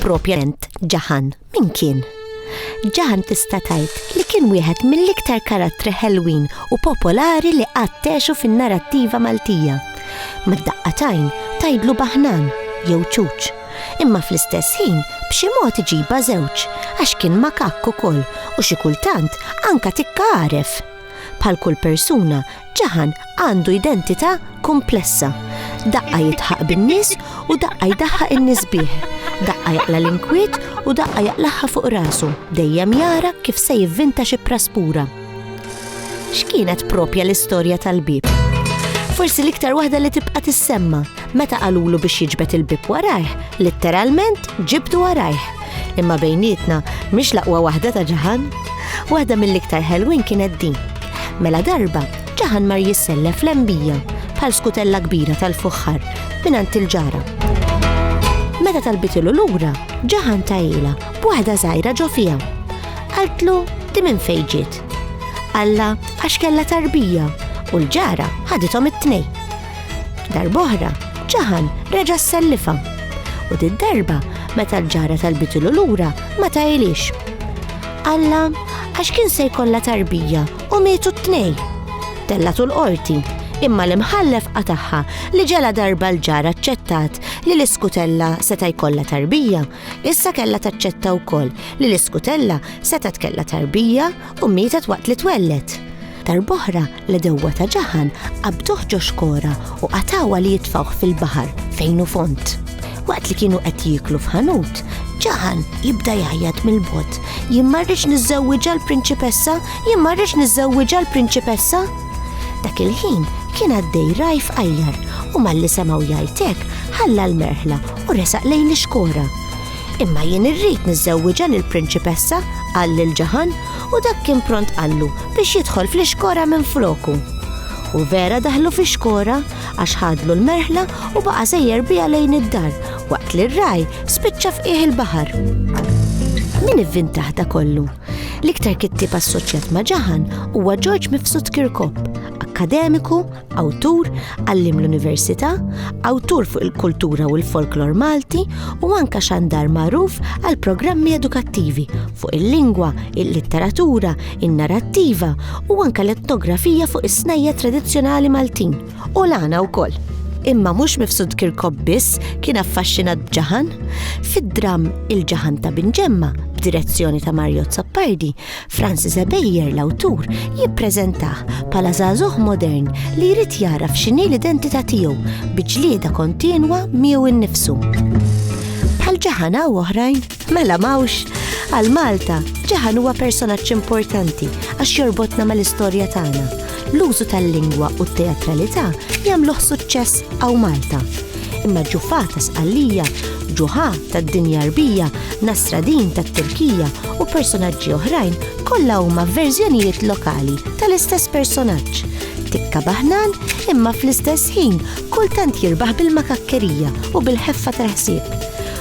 Propjament ġaħan, min kien? Ġaħan tista' tgħid li kien wieħed mill-iktar karattri ħelwin u popolari li qattexu fin-narrattiva Maltija. Mad-daqqa tajn tajdlu baħnan jew ċuċ. Imma fl-istess ħin b'xi mod iġiba żewġ għax kien makakk ukoll u xi kultant anka tikkaref. Bħal kull persuna, ġaħan għandu identità komplessa. Daqqa jitħaq bin-nies u daqqa jdaħħaq in-nies bih. Daqqa jaqla l-inkwiet u daqqa jaqlaħħa fuq rasu, dejjem jara kif se jivvinta xi praspura. X'kienet propja l-istorja tal-bib? Forsi l-iktar waħda li tibqa' tissemma Meta qalulu biex jiġbed il-bieb warajh, litteralment ġibdu warajh. Imma bejnietna, mhix l-aqwa waħda ta' Ġaħan? Waħda mill-iktar ħelwin kienet din. Mela darba, Ġaħan mar jissellef lembija bħal skutella kbira tal-fuħħar mingħand il-ġara. Meta talbitilu lura, Ġaħan tajila b'waħda żgħira ġo fiha. Qaltlu di minn fejn ġiet. Alla għax kellha tarbija u l-ġara ħadithom it-tnejn. Darb'oħra, Ġaħan reġa' ssellifha. U did-darba, meta l-ġara talbitilu lura, ma tailix. Alla, għax kien se jkollha tarbija u mietu t-tnej. Tellatu l-qorti, imma l-imħallef qatagħha li ġela darba l-ġara aċċettat li l-iskutella seta' jkollha tarbija, issa kellha taċċetta wkoll li l-iskutella setgħet kellha tarbija u mietet waqt li twelled. Darb'oħra, L-edewwa ta' Ġaħan qabduh ġo xkora u qatawha li jitfawh fil-baħar fejn hu font. Waqt li kienu qed jieklu f'ħanut, Ġaħan jibda jgħajjat mill-bot. Jien marriċ niżżewwiġa l-prinċipessa, jien marriċ niżżewwiġa l-prinċipessa. Dak il-ħin kien għaddej rajf qajjar u malli semaw jajtek ħalla l-merħla u resaq lejn l-xkora. Imma jien irrid niżżewwiġa lill-prinċipessa, qal lil Ġaħan u dak kien pront qallu biex jidħol fl-ixkora minfloku. U vera daħlu fix-xkora għax ħadlu l-merħla u baqa' sejjer biha lejn id-dar waqt li r-ragħaj spiċċa f'qiegħ il-baħar. Min ivvintaħ da kollu? L-iktar kittieb assoċjat ma' Ġaħan huwa George Mifsud Kirkop, akkademiku, awtur, għallim l-università, awtur fuq il-kultura u l-folklor Malti u anka xandar magħruf għal programmi edukattivi fuq il-lingwa, il-litteratura, in-narrattiva u anka l-etnografija fuq is-snajja tradizzjonali Maltin u l-għana wkoll imma mhux mifsud Kirkop biss kien affaxxinat b'ġaħan. Fid-dram Il-ġaħan ta' Binġemma, b'direzzjoni ta' Mario Zappardi, Franz Zebejer, l-awtur, jippreżentah bħala żagħżugħ modern li jrid jagħraf x'inhi l-identità tiegħu bi ġlieda kontinwa miegħu innifsu. Bħal Ġaħan hawn oħrajn? Mela m'hawnx! Għal Malta, Ġaħan huwa personaġġ importanti għax jorbotna mal-istorja tagħna L-użu tal-lingwa u t-teatralità jagħmluh suċċess hawn Malta. Imma ġufà ta' Sqallija, ġuħà tad-dinja Għarbija, Nasradin tat-Turkija u personaġġi oħrajn kollha huma verżjonijiet lokali tal-istess personaġġ. Tikka baħnan imma fl-istess ħin kultant jirbaħ bil-makakkerija u bil-ħeffa tal-ħsieb.